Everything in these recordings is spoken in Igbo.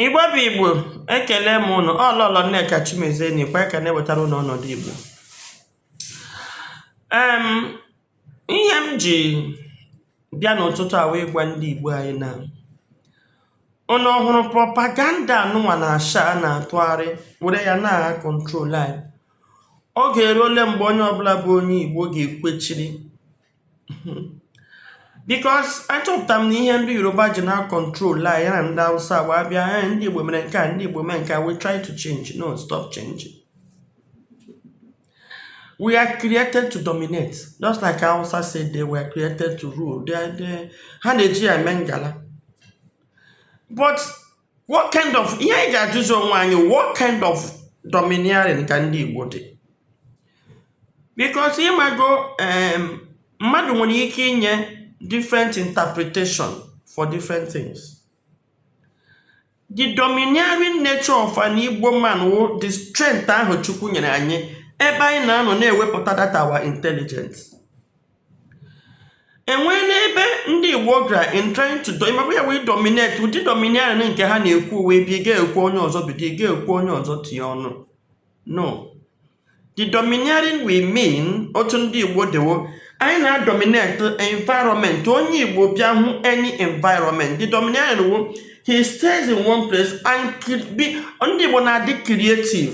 igbo bụ igbo ekele m ụnụ ọ lọlọ nneka chimezie nọkwa ka na-ewetara ụnụ ọnọdụ igbo em ihe m ji bịa n'ụtụtụ a wụ ịgwa ndị igbo anyị na ụnụ ọhụrụ propaganda a nụnwa na-asha a na-atụgharị were ya na-acontrol anyị oge eruole mgbe onye ọbụla bụ onye igbo ga-ekwechiri because achọpụta m na ihe ndị yoruba ji na-acontrol anyị na ndị hausa wụ a bịa eh, ndị igbo mere nke a ndị igbo mere nke a we try to change no stop changing we are created to dominate just like hausa said they were created to rule they, they, ha na-eji ya eme ngala but what kind of ihe anyị ga-ajụzi onwe anyị what kind of domineering ka ndị Igbo dị because ịmago mmadụ nwere ike inye different interpretation for different things the domineering nature of an Igbo man wụ the strength ahụ Chukwu nyere anyị ebe anyị na-anọ na-ewepụta that our intelligence enwee n'ebe ndị igbo gara in trying to do ịmakwa ya wee dominate ụdị domineering nke ha na-ekwu wụ ebe ị ga-ekwu onye ọzọ bido ị ga-ekwu onye ọzọ tinye ọnụ no the domineering we mean otu ndị igbo dị wụ anyị na-adominate environment onye igbo bịa hụ any environment the domineering wụ he stays in one place and be ndị igbo na-adị creative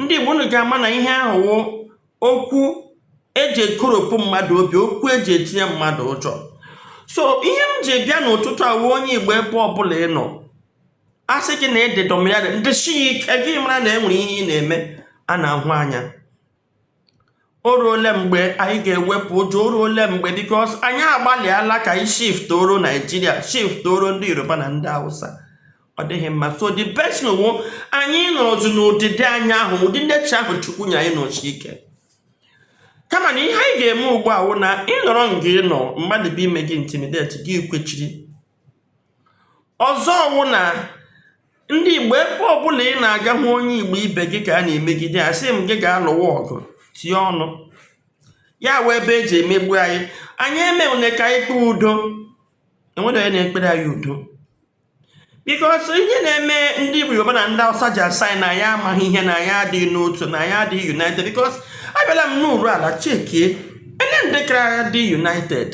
ndị Igbo unu ga-ama na ihe ahụ wụ okwu eji ekoropụ mmadụ obi okwu eji etinye mmadụ ụjọ so ihe m ji bịa n'ụtụtụ a wụ onye Igbo ebe ọbụla ị nọ a sị gị na ị dị domineering dịshie ike gị mara na e nwere ihe ị na-eme a na-ahụ anya o ruole mgbe anyị ga-ewepụ ụjọ o ruole mgbe because anyị agbalịala ka anyị shiftoro nigeria shiftoro ndị yoruba na ndị hausa ọ dịghị mma so the best wụ anyị nọzi n'ụdịdị anyị ahụ ụdị nature ahụ chukwu nye anyị nọshie ike kama na ihe anyị ga-eme ugbu a wụ na ị nọrọ nga ị nọ mmadụ bịa ime gị intimidate gị kwechiri ọzọ wụ na ndị igbo ebe ọbụla ị na-aga hụ onye igbo ibe gị ka a na-emegide ya asị m gị gaa lụwa ọgụ tie ọnụ ya wụ ebe eji emegbu anyị anyị emewune ka anyị kpee udo enwere onye na-ekpere anyị udo because ihe na-eme ndị igbo yoruba na ndị awụsa ji asị anyị na anyị amaghị ihe na anyị adịghị n'otu na anyị adịghị united because abịala m nọrọ ala chekie ele ndị kara dị united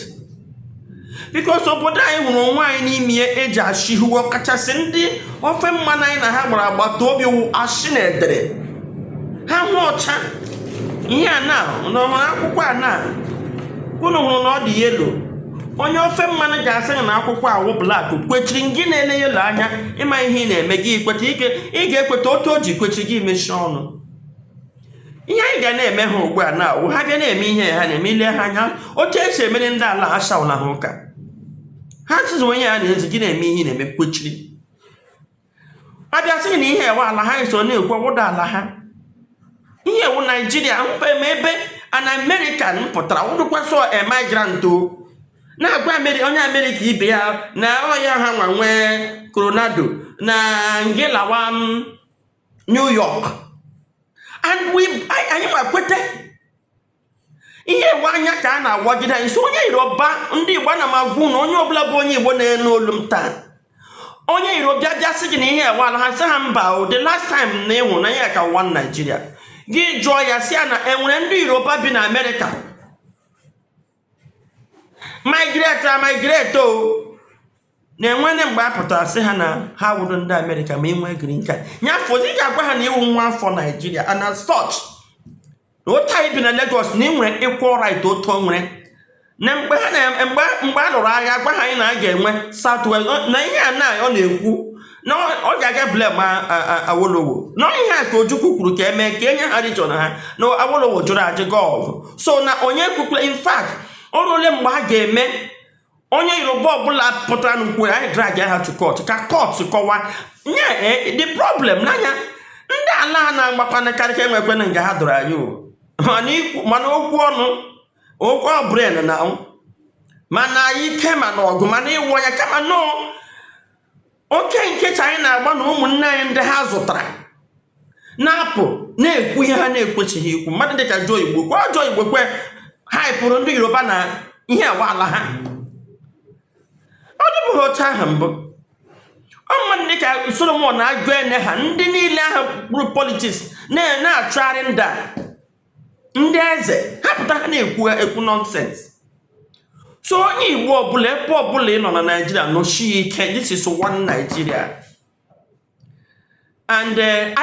bikos obodo anyị hụrụ onwe anyị n'ime ya eji ashị hiwe ọkachasị ndị ofe mmanụ anyị na ha gbara agbata obi wụ ashị na edere ha hụ ọcha ihe a na n'ọhụrụ akwụkwọ a na unu hụrụ na ọ dị yelo onye ofe mmanụ ga-asị na akwụkwọ a wụ blak kwechiri gị na-ele yelo anya ị maghị ihe ị na-eme gị kweta ị ga-ekweta otu o ji kwechiri gị emechie ọnụ ihe anyị ga na-eme ha ugbu a na a wụ ha bịa na-eme ihe ha na-eme ile ha anya otu esi emere ndị ala ha shawụla ha ụka ha tụzi onye ya na-ezi gị na-eme ihe ị na-eme kwechiri a bịa sị gị na ihe a wụ ala ha eso na-ekwu ọwụda ala ha ihe a wụ naijiria mkpa eme ebe an american pụtara wụdụkwasị immigrant o na-agwa Ameri- onye amerịka ibe ya na ọya ha nwa nwe coronado na ngị lawa New York and anyị ma kweta ihe a wụ anya ka a na-awagide anyị so onye Yoruba ndị Igbo na m agwa unu onye ọbụla bụ onye Igbo na-anụ olu m taa onye Yoruba bịa sị gị na ihe a wụ ala ha sị ha mba o the last time na ịhụ na ihe a ka one Naijiria gị jụọ ya sị ya na enwere ndị Yoruba bi na Amerịka migrate a migrate o na-enwene mgbe a pụtara sị ha na ha wụrụ ndị amerịka ma inwe green card ya fọzie ị ga-agwa ha na ị wụ nwa afọ naijiria and as such na otu a i bi na Lagos na i nwere equal right otu o nwere na mgbe ha na mgbe mgbe a lụrụ agha agwaha anyị na a ga-enwe south west na ihe a na ọ na-ekwu na ọ ga-aga blame awolowo na ihe a ka ojukwu kwuru ka emee ka enye ha rijọn ha na awolowo jụrụ ajụ gaa ọgụ so na onye kwukwere in fact o ruole mgbe a ga-eme onye yoruba ọbụla pụtara na-ekwu anyị drag ha to court ka court kọwa nye eh, the problem n'anya ndị ala a na-agbakwana karịka enwekwana nga ha dụrụ anyị mana okwu ọnụ okwu brain na mana ike mana ọgụ mana iwu ya kama nọọ oke nkịta anyị na-agba na ụmụnne anyị ndị ha zụtara na-apụ na-ekwu ihe ha na-ekwesịghị ikwu mmadụ dịka Joe Igbokwe Joe Igbokwe ha pụrụ ndị yoruba na ihe a wụ ala ha ọ dịbụghị otu ahụ mbụ ọ mmadụ dịka Solomon Aguene ha ndị niile ahụ kpụrụ politiks na-achụgharị ndị a ndị eze ha pụta ha na-ekwu ekwu nọnsens so onye igbo ọbụla ebe ọbụla ị nọ na naijiria nọchie ike this is one nigeria and uh,